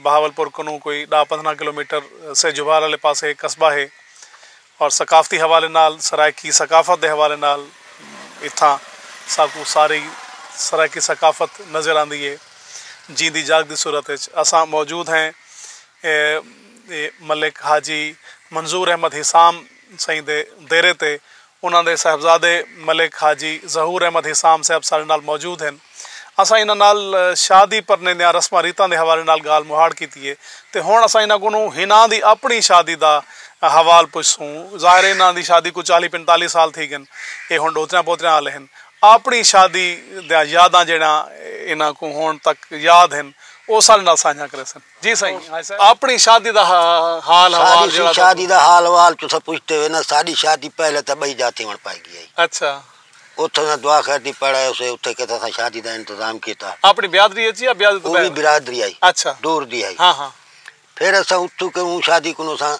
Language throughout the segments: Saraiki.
بہاولپور کنوں کوئی ݙاہ پندرھاں کلومیٹر سیجوبھار آلے پاسے ہک قصبہ ہے اور ثقافتی حوالے نال سرائیکی ثقافت دے حوالے نال اتھاں ساکوں ساری سرائیکی ثقافت نظر آندی ہے جیندی جاگ دی صورت اچ اساں موجود ہیں ملک حاجی منظور احمد حسام سئیں دے دیرے تے انہاں دے صاحبزادے ملک حاجی ظہور احمد حسام صاحب ساڈے نال موجود ہن۔ اساں انہاں نال شادی پرنے دیاں رسماں ریتاں دے حوالے نال گالھ مہاڑ کیتی ہے تے ہنڑ اساں انہاں کولوں ہناں دی اپنڑی شادی دا حوال پچھسوں۔ ظاہر ہے انہاں دی شادی کوں چالی پنتالی سال تھی گن۔ اے ہنڑ ڈوتریاں پوتریاں آلے ہن۔ آپنڑی شادی دیاں یاداں جیہڑیاں انہاں کوں ہنڑ تک یاد ہن او ساڈے نال سانجھیاں کریسن۔ جی سائیں آپنی شادی دا حال حوال جیڑا تساں شادی دا حال حوال تساں پچھدے ہوئے نا ساڈی شادی پہلے تاں بئی جاہ تھیوݨ پائی گئی ہئی اچھا اتھاں تاں دعا خیر دی پڑھ آئے ہوسے اتھے کیتے اساں شادی دا انتظام کیتا آپنی بیادری اچ یا بیادری توں او وی بہر برادری ہئی اچھا دور دی ہئی ہاں ہاں پھر اساں اتھوں کیوں شادی کنوں اساں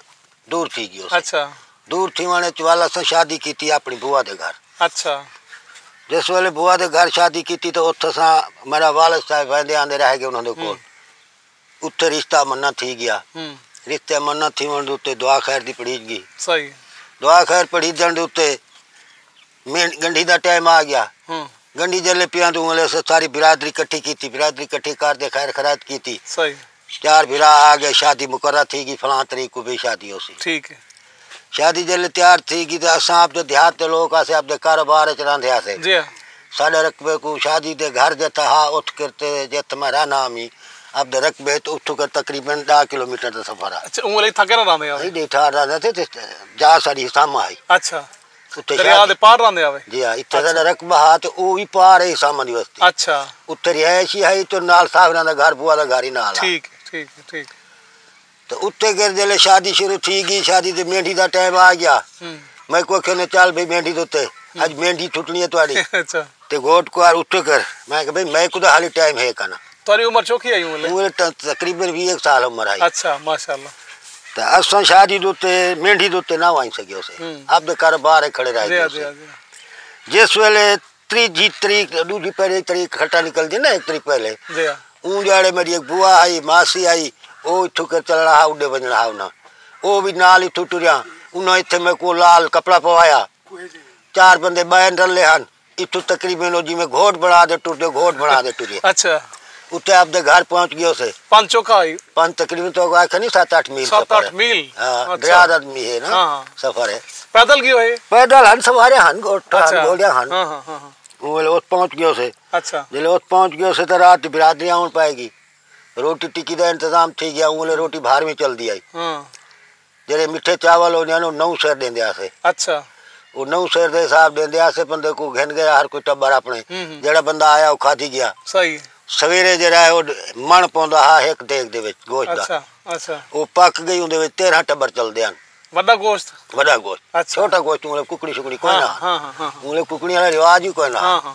دور تھی گیو سی اچھا دور تھیوان اچ والا سا شادی کیتی اپنی بوا دے گھر اچھا جس ویلے بوا دے گھر شادی کیتی تو اتھا سا میرا والد صاحب ویندے آندے رہ گئے انہاں دے کول اتھے رشتہ منا تھی گیا رشتہ منا تھیوان دے اتے دعا خیر دی پڑھیج گی صحیح دعا خیر پڑھیجن دے اتے مینڈھ گنڈھی دا ٹائم آ گیا گنڈھی جلے پیاں تو انہوں نے ساری برادری کٹھی کیتی برادری کٹھی کر دے خیر خرات کیتی صحیح چار بھرا آ گئے شادی مقرر تھی گی فلاں تاریخ کو بھی شادی ہو سی ٹھیک ہے شادی جلے تیار تھی گی تے اساں اپ دے دیہات دے لوگ اسے اپ دے کاروبار وچ رہندے ہسے جی ہاں۔ ساڈے رقبے کو شادی دے گھر جتھا ہا اٹھ کر تے جتھ میں رہنا ہمی اپ دے رقبے تو اٹھ کر تقریبا 10 کلومیٹر دا سفر ہے اچھا اوں لئی تھکے نہ رہندے ہو ایڈی ٹھار رہندے تھے جا ساری ساما ہے اچھا اتھے دریا دے پار راہندے ہاوے جی ہاں اتھے ساڈا رقبہ ہا تے او وی پار ہئی سامن دی وستی اچھا اتھے رہائش ہی ہئی تے نال ساہوراں دا گھر بوا دا گھر ہی نال ہا ٹھیک ہے ٹھیک ہے ٹھیک ہے تے اتھے گھر جلے شادی شروع تھی گی شادی تے مینڈھی دا ٹائم آ گیا میں کو کھنے چل بھئی مینڈھی دے اتے اج مینڈھی ٹھٹنی ہے تہاڈی اچھا تے گھوٹ کوں آر اٹھے کر۔ میں کہا بھئی میکوں تاں حالی ٹائم ہے کنا۔ تہاڈی عمر چوکھی ہئی اوں ویلے؟ تاں تقریبا ویہہ ہک سال عمر ہئی۔ اچھا ماشاءاللہ۔ تاں اساں شادی دے اتے مینڈھی دے اتے نہ ونج سگیو سے۔ آپدے کاروبار تے کھڑے رہ گیو سے۔ جس ویلے تریجھی تریخ ڈوجھی پہلی تریخ کھٹا نکلدی نا ہک تریخ پہلے۔ اوں ڈیہاڑے میڈی ہک بوا ہئی ماسی ہئی او اتھوں کر چلنا ہا اڈے ونجنا ہا انہاں۔ او وی نال اتھوں ٹریا انہاں اتھے میکوں لال کپڑا پوایا۔ چار بندے بین رلے ہن اتھو تقریبا او جی میں گھوٹ بنا دے ٹر دے گھوٹ بنا دے ٹریا اچھا اتے اپ دے گھر پہنچ گیو سے پن چوکا ہوئی پن تقریبا تو گا کھنی 7 8 میل سفر 7 8 میل ہاں دریا دا می ہے نا سفر ہے پیدل گیو ہے پیدل ہن سوارے ہن گھوٹ ہن گھوڑیا ہن ہاں ہاں ہاں وہ لوگ پہنچ گیو سے اچھا جے لوگ پہنچ گیو سے تو رات برادری آن پائے گی روٹی ٹکی دا انتظام تھی گیا وہ لوگ روٹی بھار میں چل دی آئی ہاں جیڑھے مٹھے چاول ہوندے ہن او نو سیر ݙیندے ہاسے۔ اچھا۔ او نو سیر دے حساب ݙیندے ہاسے بندے کوں گھن گیا ہر کوئی ٹبر اپݨے۔ جیڑھا بندہ آیا او کھادی گیا۔ صحیح۔ سویرے جیڑھا ہے او مݨ پوندا ہا ہک دیگ دے وچ گوشت دا۔ اچھا اچھا۔ او پک گئی اوندے وچ تیرھاں ٹبر چلدے ہن۔ وݙا گوشت؟ وݙا گوشت۔ اچھا۔ چھوٹا گوشت مطلب ککڑی شکڑی کوئی نہ ہا۔ ہاں ہاں ہاں۔ مطلب ککڑیاں دا رواج ہی کوئی نہ ہا۔ ہاں ہاں۔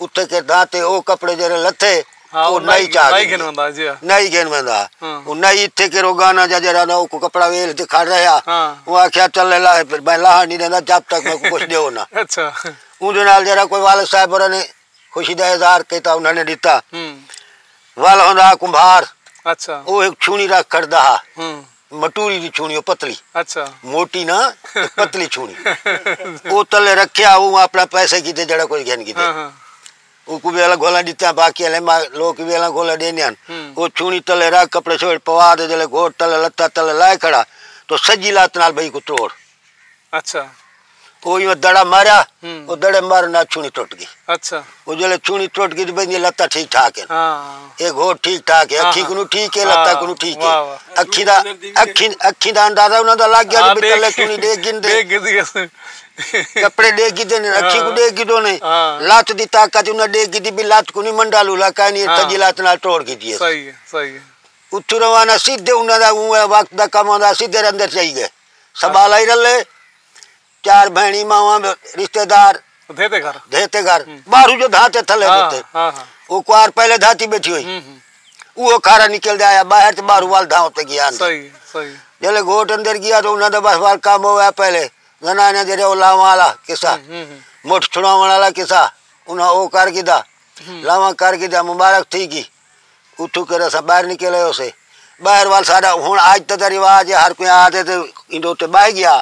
اتے کے داتے او کپڑے جیرے لتے ہاں او نائی چاہ نائی گھن ویندا جی نائی گھن ویندا ہاں او نائی اتے کے رو گانا جا جیرا دا او کو کپڑا ویل دکھا رہیا ہاں او آکھیا چل لے لا پھر میں لاہا نی دیندا جب تک میں کچھ دیو نا اچھا اون دے نال جیرا کوئی والد صاحب اور نے خوشی دا اظہار کیتا انہاں نے دیتا ہم وال ہوندا کمبھار اچھا او ایک چھونی رکھ کر دا ہاں مٹوری دی چھوڑی او پتلی اچھا موٹی نا پتلی چھوڑی او تلے رکھیا او اپنا پیسے کیتے جڑا کوئی گھن کیتے ہاں ہاں او کو ویلا گھولا دیتا باقی لے ما لوگ ویلا گھولا دینے ہن او چھوڑی تلے رکھ کپڑے چھوڑ پوا دے جلے گھوٹ تلے لتا تلے لائے کھڑا تو سجی لات نال بھئی کو توڑ اچھا او ایو دڑا ماریا او دڑے مارن نال چھونی ٹوٹ گئی اچھا او جلے چھونی ٹوٹ گئی تے بندی لتا ٹھیک ٹھاک ہے ہاں ایک ہو ٹھیک ٹھاک ہے اکھی کنو ٹھیک ہے لتا کنو ٹھیک ہے اکھی دا اکھی اکھی دا اندازہ انہاں دا لگ گیا کہ تلے چھونی دے گن دے کپڑے دے گی دے اکھی کو دے گی دو نے لات دی طاقت انہاں دے گی دی بھی لات کنی منڈا لولا کانی تجی لات نال ٹوڑ گئی دی صحیح ہے صحیح ہے اتھو روانہ سیدھے انہاں دا وقت دا کم ہوندا سیدھے اندر چاہی گئے سنبھالا ہی رلے چار بہنی ماواں رشتے دار دھیتے گھر دھیتے گھر باہر جو دھاتے تھلے ہاں، ہوتے ہاں، ہاں۔ وہ کوار پہلے دھاتی بیٹھی ہوئی ہم، ہم۔ وہ کھارا نکل دے آیا باہر تے باہر وال دھاؤ تے گیا اندر صحیح صحیح جلے گھوٹ اندر گیا تو انہاں دا بس وال کام ہویا پہلے زنانہ جڑے او لاواں والا قصہ ہم، ہم، ہم۔ مٹھ چھڑاون والا قصہ انہاں او کر گھدا لاواں کر گھدا مبارک تھی گی اتھو کر اساں باہر نکل آئے ہوسے باہر وال ساڈا ہن اج تاں دا رواج ہے ہر کوئی آ تے تے ایندے اتے بہہ گیا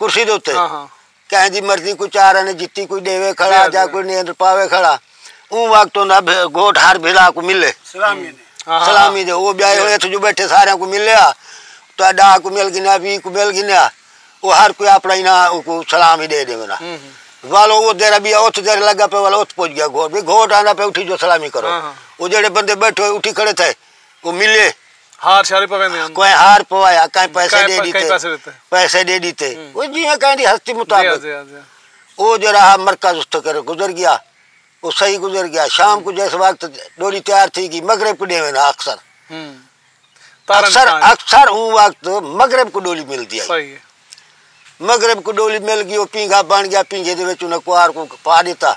کرسی دے اتے ہاں ہاں کہیں دی مرضی کوئی چار آنے جتی کوئی ڈیوے کھڑا جی، جی۔ جا کوئی نیندر پاوے کھڑا اون وقت ہوندا بھے- گھوٹ ہر بھرا کو ملے سلامی نے ہاں، ہاں۔ سلامی دے او بیائے ہوئے اتھو جو بیٹھے سارے کو ملیا تو ڈا کو مل گنیا وی کو مل گنیا او ہر کوئی اپنا انہاں اونکوں سلام ہی ڈے ڈیوندا ولو او دیرا بیا اوتھ دیر لگا پے ول اوتھ پوج گیا گھوٹ بھی گھوٹ آندا پے اٹھی جو سلامی کرو او جڑے بندے بیٹھے ہوئے اٹھی کھڑے تھے او ملے ہار شاری پوے میں کوئی ہار پوایا کہیں پیسے دے دیتے پیسے دے دیتے او جی میں کہیں دی ہستی مطابق او جڑا مرکز اس کر گزر گیا او صحیح گزر گیا شام کو جس وقت ڈوری تیار تھی گی مغرب کو ڈیوے نا اکثر اکثر اکثر اوں وقت مغرب کو ڈولی مل گیا صحیح مغرب کو ڈولی مل گئی وہ پینگا بن گیا پینگے دے وچ انہاں کوار کو پا دیتا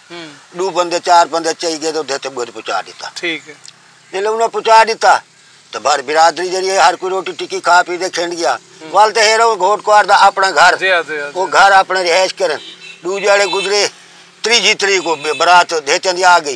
دو بندے چار بندے چاہی گئے تو دیتے بود پچا دیتا ٹھیک ہے جلے انہاں پچا دیتا تو بھر برادری جڑی ہے ہر کوئی روٹی ٹکی کھا پی دے کھنڈ گیا والتے ہیرا وہ گھوٹ کوار دا اپنا گھر جی، جی، جی۔ وہ گھر اپنا رہائش کرن دو جڑے گزرے تری جی تری کو برات دیتے دی آ گئی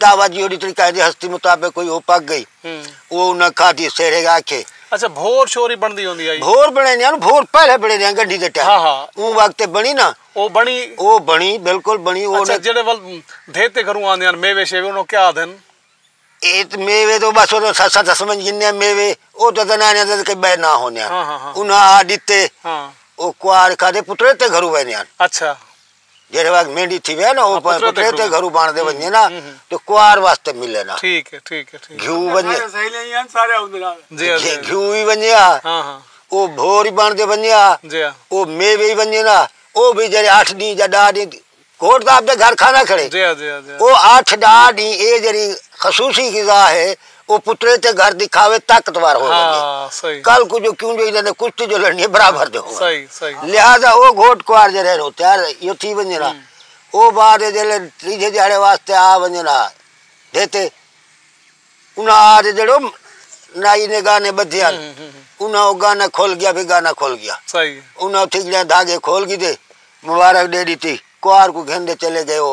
دعویٰ جی اوڈی تڑی قائد ہستی مطابق کوئی او پک گئی او انہاں کھا دی سیرے گا کھے اچھا بھور شوری بن دی ہوندی آئی بھور بنے دیاں بھور پہلے بنے دیاں گنڈی دے ٹائم ہاں ہاں اون وقت بنی نا او بنی او بنی بالکل بنی او اچھا جڑے ول بھیتے گھروں آن دیاں میوے شیوے انہوں کیا آدھن ایت میوے تو بس وہ سا سا دس من جنہیں میوے او تو دن آنے دن کئی بے نہ ہونے ہاں ہاں ہاں انہاں آ دیتے ہاں او کوار کھا دے پترے تے گھروں بنے دیاں اچھا جیرے وقت مینڈی تھی وے نا پترے تے گھرو گھرو بان دے ونجے نا تو کوار واسطے ملے نا ٹھیک ہے ٹھیک ہے گھیو ونجے سارے اوندے نال جی گھیو وی ونجے ہاں ہاں او بھور بان دے ونجے ہاں جی او میوے وی ونجے نا او بھی جڑے 8 دن یا 10 دن کوٹ دا اپ دے گھر کھانا کھڑے جی جی او 8 10 دن اے جڑی خصوصی غذا ہے او پترے تے گھر دکھاوے طاقتور ہو ونجے ہاں صحیح کل کو جو کیوں جو انہاں نے کشتی جو لڑنی ہے برابر دے ہو صحیح صحیح لہذا او گھوٹ کوار جے رہن ہوتے ہیں یہ تھی ونجے نا او بعد جے لے تیجھے جاڑے واسطے آ ونجے نا دیتے انہاں آ جے جڑو نائی نے گانے بدھے ہیں انہاں او گانا کھول گیا بھی گانا کھول گیا صحیح انہاں تھی جڑے دھاگے کھول گی دے مبارک دے دی تھی کوار کو گھن دے چلے گئے او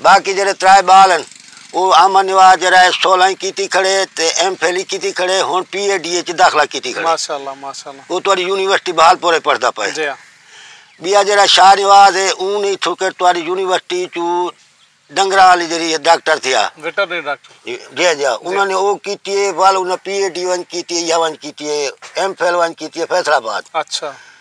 باقی جیڑھے ترائے بال ہن او احمد نواز جیڑھا ہے سولہ ای کیتی کھڑے تے ایم فل ای کیتی کھڑے ہن پی اے ڈی اچ داخلہ کیتی کھڑے ماشاءاللہ ماشاءاللہ او تہاڈی یونیورسٹی بہالپور اچ پڑھدا پئے جی ہاں بیا جیڑھا شاہ نواز ہے اون ای تھکر تہاڈی یونیورسٹی اچو ڈنگراں والی جیڑھی ہے ڈاکٹر تھیا ویٹرنری ڈاکٹر جی جی ہاں جی ہاں انہاں نے او کیتی ہے ول انہاں پی اے ڈی ونج کیتی ہے یا ونج کیتی ہے ایم فل ونج کیتی ہے فیصل آباد اچھا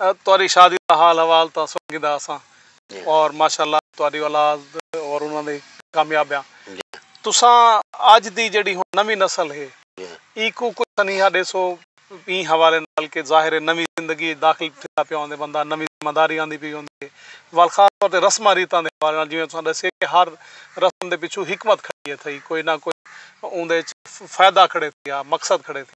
تہاڈی شادی دا حال حوال تاں سن گھدا اساں اور ماشاءاللہ تہاڈی اولاد اور انہاں دی کامیابیاں تساں اج دی جیڑھی ہن نویں نسل ہے اینکوں کوئی سنیہا ڈیسو ایں حوالے نال کہ ظاہر ہے نویں زندگی اچ داخل تھیندا پیا ہوندے بندہ نویں ذمہ داری آندی پئی ہوندی ہے ول خاص طور تے رسماں ریتاں دے حوالے نال جیویں تساں ڈسیے کہ ہر رسم دے پچھوں حکمت کھڑی ہے تھئی کوئی نہ کوئی اوندے اچ فائدہ کھڑے تھیا مقصد کھڑے تھیا۔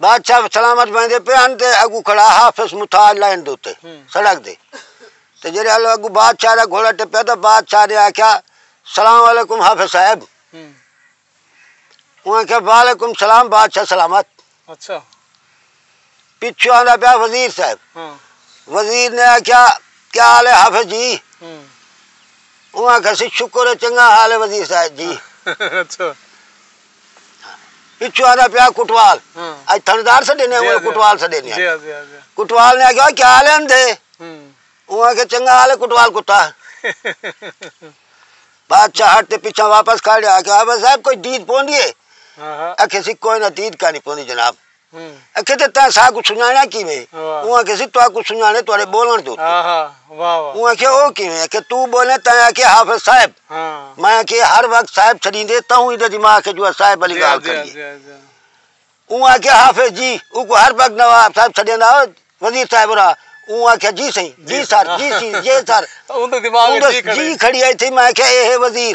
بادشاہ سلامت ویندے پئے ہن تے اگو کھڑا حافظ متاج لائن دے اتے سڑک دے تے جڑے ہلو اگو بادشاہ دا گھوڑا ٹپیا تے بادشاہ نے آکھیا سلام علیکم حافظ صاحب انہاں آکھیا وعلیکم سلام بادشاہ سلامت اچھا پچھو آندا پیا وزیر صاحب وزیر نے آکھیا کیا حال ہے حافظ جی انہاں آکھیا سی شکر ہے چنگا حال ہے وزیر صاحب جی اچھا پچھو آدھا پیا کٹوال اج تھندار سے دینے ہیں کٹوال سے دینے ہیں کٹوال نے آگیا کیا آلے ہم دے وہ آگے چنگا آلے کٹوال کتا بادشاہ ہٹ تے پچھا واپس کھا لیا آگیا آبا صاحب کوئی دید پوندی ہے اکھے سی کوئی نہ دید کانی پوندی جناب اکھے تے تاں ساہ کوں سنجانڑا کیویں ہے اوں آکھے سی تہاکو سنجانڑے تہاڈے بولنڑ دے اتے اوں آکھے او کیویں اکھے تو بولیں تاں آکھے حافظ صاحب میں آکھے ہر وقت صاحب چھڈیندے تاں ایڈے دماغ اچ جو صاحب علی گال کریے اوں آکھے حافظ جی اوکو ہر وقت نواب صاحب چھڈیندا ہو وزیر صاحب را اوں آکھے جی سائیں جی سر جی سی جے سر اوں دے دماغ اچ جی کھڑی ہے تھی میں آکھے اے ہے وزیر